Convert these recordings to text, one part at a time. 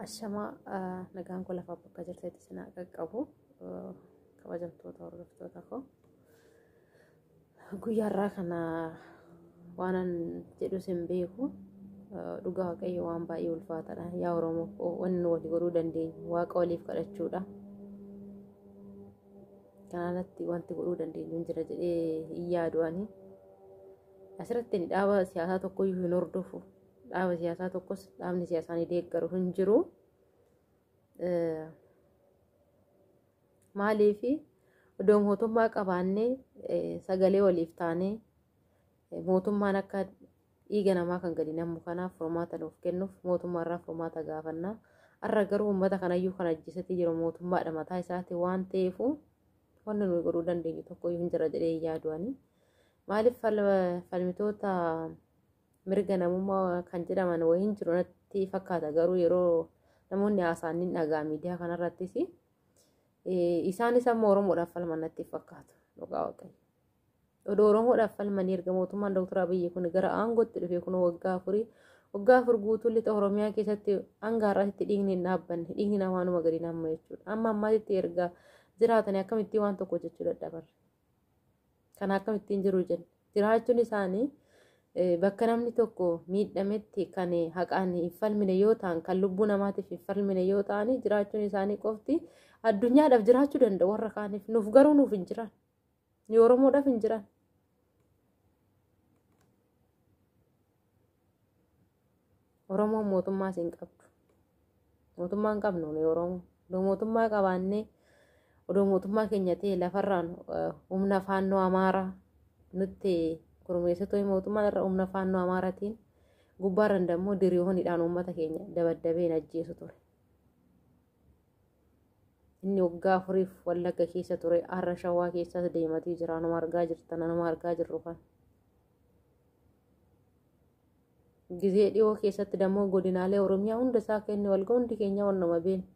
Ashamaa nagaan koo lafa bakka jirtetti isin haa qaqqabu kabajamtoota hordoftoota koo guyyaarraa kana waanan jedhus hin beeku dhugaa waaqayyo waan baay'ee ulfaataadha yaa oromoo koo wanni walii godhuu dandeenyu waaqa waliif kadhachuudha kanarratti wanti godhuu dandeenyu hin jira jedhee hin yaadu ani asirratti dhaaba siyaasaa tokkoyyuu hin hordofu dhaaba siyaasaa tokkos dhaabni siyaasaa ni deeggaru hin jiru. Maaliif odoo mootummaa qabaannee sagalee waliif taanee mootummaan akka dhiiga namaa kan gadi namu kanaaf furmaata nuuf kennuuf mootummaa irraa furmaata gaafanna. Har'a garuu uummata kanayyuu kan ajjeesatee jiru mootummaadha mataa isaati waan ta'eef wanni nuyi godhuu dandeenyu tokko hin jira jedhee hin yaadu ani. Maaliif falmitoota mirga namummaa kan jedhaman wayiin jiru natti fakkaata garuu yeroo namoonni haasaan ni dhagaa miidiyaa kanarrattis isaanis amma oromoodhaaf falman natti fakkaatu dhugaa waaqayyo. Odoo oromoodhaaf falmanii erga mootummaan Dr. Abiyyi kun gara aangootti dhufee kun waggaa afurii waggaa afur guutuu lixa oromiyaa keessatti hanga har'aatti dhiigni hin dhaabbanne dhiigni namaanuma gadi nama jechuudha. Amma ammaatitti erga jiraatanii akkamittiin waan tokko jechuu dadhaban. Kana akkamittiin jiru jenna. Jiraachuun isaanii bakka namni tokko miidhametti kan haqaan hin falmine yoo ta'an kan lubbuu namaatiif hin falmine yoo ta'anii jiraachuun isaanii qofti addunyaadhaaf jiraachuu danda'u warra kaaniif nuuf garuu nuuf hin jiran ni oromoodhaaf hin jiran Oromoon mootummaa siin qabdu. Mootummaa hin qabnu nuyi Oromoo. Odoo mootummaa qabaannee odoo mootummaa keenya ta'e lafarraan eh, humna faannoo amaaraa nutti gurmeessitu mootummaan irra humna faannoo amaaraatiin gubbaarran dammoo diriyoonidhaan uummata keenya dabaddabeen ajjeesu ture. Inni waggaa afuriif wallagga keessa ture har'a shawaa keessas deematii jira anuma argaa jirtan anuma argaa jirru kan. Gizee dhiyoo keessatti dammoo godinaalee Oromiyaa hunda isaa kenne walga hundi keenya wannuma beenu.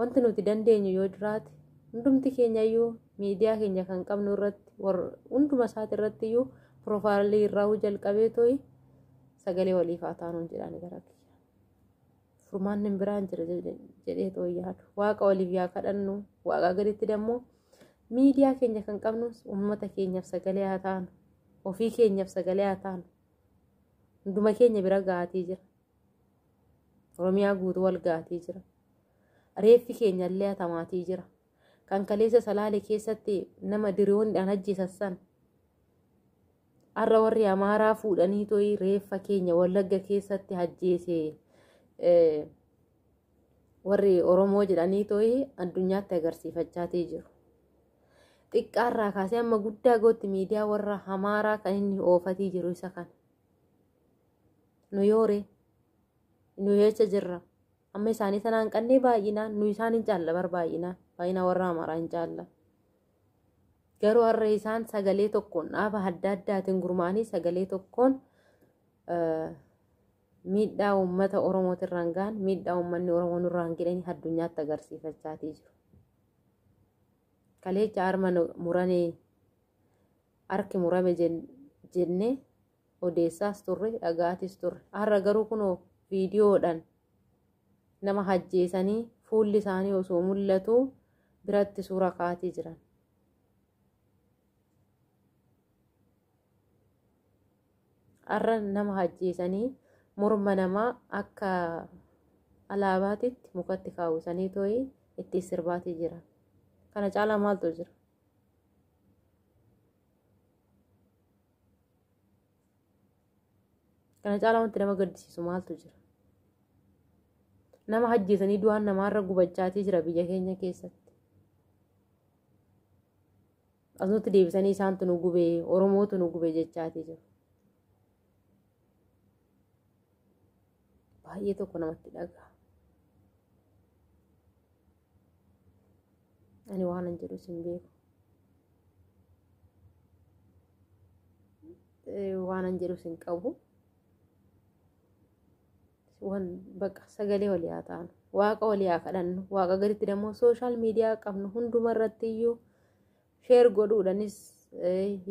Wanti nuti dandeenyu yoo jiraate hundumti keenya iyyuu miidiyaa keenya kan qabnu irratti hunduma isaati irratti iyyuu piroofaayilii irraa jalqabee to'i sagalee waliif haa taanuun jedhaani gara kiyya. furmaanni hin biraan jira jedhee too yaadu waaqa waliif yaa kadhannu waaqaa gaditti dammoo miidiyaa keenya kan qabnus uummata keenyaaf sagalee haa taanu ofii keenyaaf sagalee haa taanu hunduma keenya bira gaatii jira oromiyaa guutuu wal gaatii jira reeffi keenya illee hatamaatii jira kan kaleessa salaale keessatti nama diriyoondhaan ajjeesassan Har'a warri Amaaraa fuudhanii to'ii reeffa keenya Wallagga keessatti hajjeese warri Oromoo jedhanii to'ii addunyaatti agarsiifachaatii jiru. Xiqqaarraa kaasee amma guddaa gootti miidiyaa warra Amaaraa kan inni oofatii jiru isa kana. Nu yoore, nu yeecha jirra. Amma isaanii sanaan qannee baay'inaan, nu isaan hin caalla bar baay'inaan, baay'inaa warra Amaaraa hin caalla. Garuu har'a isaan sagalee tokkoon dhaaba adda addaatiin gurmaa'anii sagalee tokkoon miidhaa uummata Oromootiin irraan gahan miidhaa uummanni Oromoo nurraan gidhanii addunyaatti agarsiifachaatii jiru. Kaleecha harma muranee harki murame jennee odeessaas turre dhagaatis turre har'a garuu kunoo viidiyoodhaan nama hajjeesanii fuulli isaanii osoo mul'atu biratti suura kaatii jiran. Har'a nama hajjeesanii morma namaa akka alaabaatitti mukatti kaawwisanii too'ii itti sirbaatii jiran. Kana caalaa maaltu jira? kana caalaa wanti nama gaddisiisu maaltu jira nama hajjeesanii du'aan namaarra gubachaatii jira biyya keenya keessatti asumatti deebisanii isaantu nu gubee oromootu nu gubee jechaatii jiru baay'ee tokko namatti dhaga'a Ani waan hin jedhu sin beeku. Waan hin jedhu sin qabu. Waan bakka sagalee walii haa taanu. Waaqa walii haa kadhannu. Waaqa gaditti dammoo sooshaal miidiyaa qabnu hundumarratti iyyuu sheer godhuudhaanis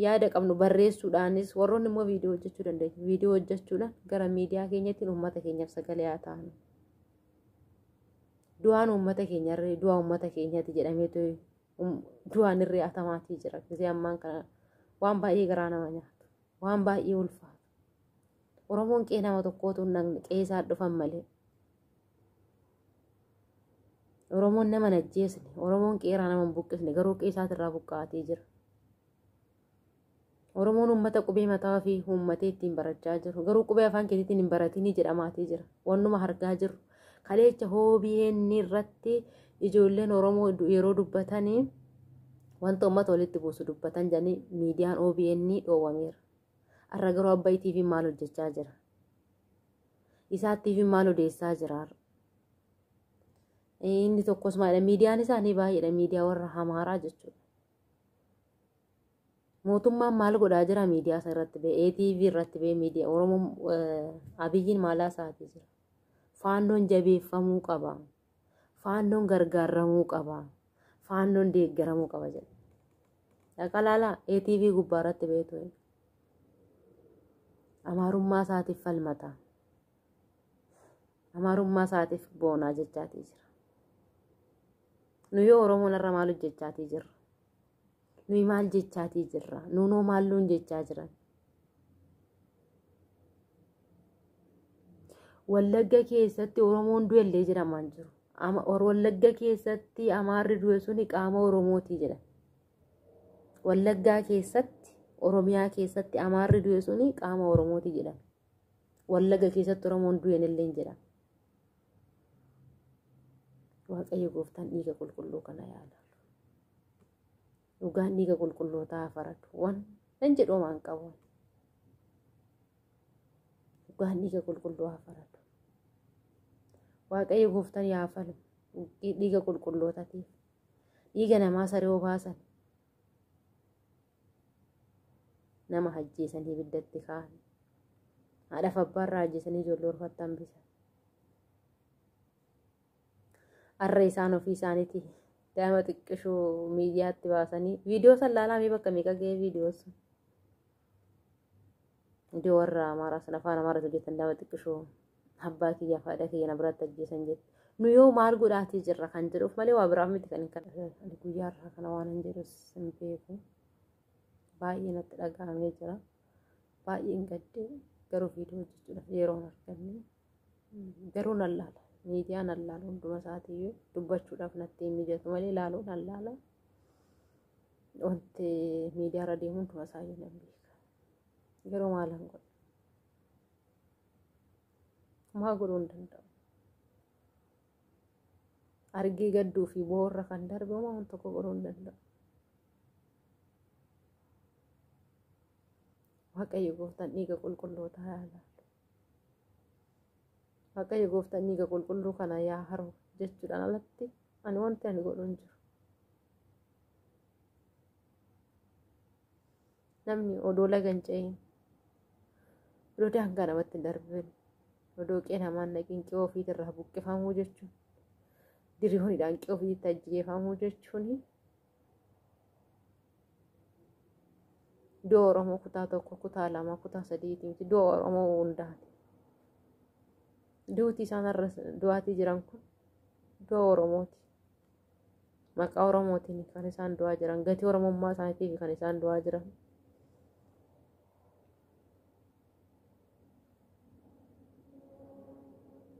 yaada qabnu barreessuudhaanis warroonni immoo viidiyoo hojjechuu dandeenyu. Viidiyoo hojjechuudhaan gara miidiyaa keenyatti uummata keenyaaf sagalee haa taanu. du'aan uummata keenyarree du'aa uummata keenyati jedhameetu du'aan irree atamaatii jira gisee ammaan kana waan baay'ee garaa nama nyaatu waan baay'ee ulfaatu oromoon qee nama tokkootu hin dhaqne qee isaa dhufan malee oromoon nama hin ajjeesne oromoon qeeraa nama hin buqqisne garuu qee isaatirraa buqqaatee jira Oromoon uummata qubee mataa fi uummatee ittiin barachaa jiru. Garuu qubee afaan keetiitiin hin baratinii jedhamaatii jira. Wannuma argaa jirru. Kaleecha OBN irratti ijoolleen Oromoo yeroo dubbatanii wanta uummata walitti buusu dubbatan jedhanii miidiyaan OBN dhoowwameera. Har'a garuu Abbaay TV maal hojjechaa jira? Isaa TV maal odeessaa jira? Inni tokkos maalidha? Miidiyaan isaanii baay'eedha. Miidiyaa warra Amaaraa jechuudha. mootummaan maal godhaa jira miidiyaa isaa irratti bee ATV irratti bee miidiyaa Oromoon abiyyiin maalaa isaatii jira faannoon jabeeffamuu qaba faannoon gargaaramuu qaba faannoon deeggaramuu qaba jedha dhaqalaalaa ATV gubbaa irratti beetu amaarummaa isaatiif falmata amaarummaa isaatiif boonaa jechaatii jira. Nuyi Oromoon irra maal hojjechaatii jirra? Nuyi maal jechaatii jirra? Nuunoo maal nuun jechaa jiran? Wallagga keessatti Oromoon du'ellee jedhamaan jiru. Wallagga keessatti Amaarri du'e suni qaama Oromooti jedha. Wallaggaa keessatti Oromiyaa keessatti Amaarri du'e suni qaama Oromooti jedha. Wallagga keessatti Oromoon du'enillee jedha. waaqayyo gooftaan dhiiga qulqulluu kana yaala dhugaan dhiiga qulqullootaa faradu waan nan jedhu waan qabu dhugaan dhiiga qulqulluu haa faradu waaqayyo gooftaan yaa falu dhiiga qulqullootatiif dhiiga namaa saree obaasan nama hajjeesan hibiddatti kaan haadhaaf abbaa irraa hajjeesanii ijoollee orfatti hambisan arra isaan ofii isaaniiti daa'ima xiqqishuu miidiyaatti baasanii viidiyoo san laalaa mee bakka meeqa ga'ee viidiyoo sun Hundi warra amaaraa sana afaan amaaraa hojjetan daawwa xiqqishoo abbaa kiyyaa fi haadha kiyya na biratti ajjeesan jetti. Nu yoo maal godhaatii jirra kan jedhuuf malee waa biraaf miti kan hin kadhatan. Ani guyyaa irraa kana waan hin jedhus hin beeku. Baay'ee natti dhaga'amee jira. Baay'een gaddee garuu viidiyoo hojjechuudhaaf yeroo hin arganne. Garuu nan laala. Miidiyaa nan laala hunduma isaatiiyyuu dubbachuudhaaf natti hin mijatu malee laaluu nan laala. Wanti miidiyaa irra deemu hunduma isaayyuu nan beeka. Garuu maal hin godhu? Maa godhuu hin danda'u? Argee gadduu fi boorra kan darbe homaa waan tokko godhuu hin danda'u. Waaqayyo gooftaan dhiiga qulqullootaa yaa laalu. Waaqayyo gooftaan dhiiga qulqulluu kana yaa haru jechuudhaan alatti ani wanti ani godhu hin jiru. namni odoo laga hin ce'in odoo daangaa namatti hin darbin odoo qe'ee namaa hin dhaqin qe'ee ofiitirraa buqqifamuu jechuun diriyoonidhaan qe'ee ofiitti ajjeefamuu jechuun du'a Oromoo kutaa tokko kutaa lama kutaa sadiiti miti du'a Oromoo hundaati. Duuti isaan irra du'aatii jiran kun du'a Oromooti. Maqaa Oromootiin kan isaan du'aa jiran, gatii Oromummaa isaaniitiif kan isaan du'aa jiran.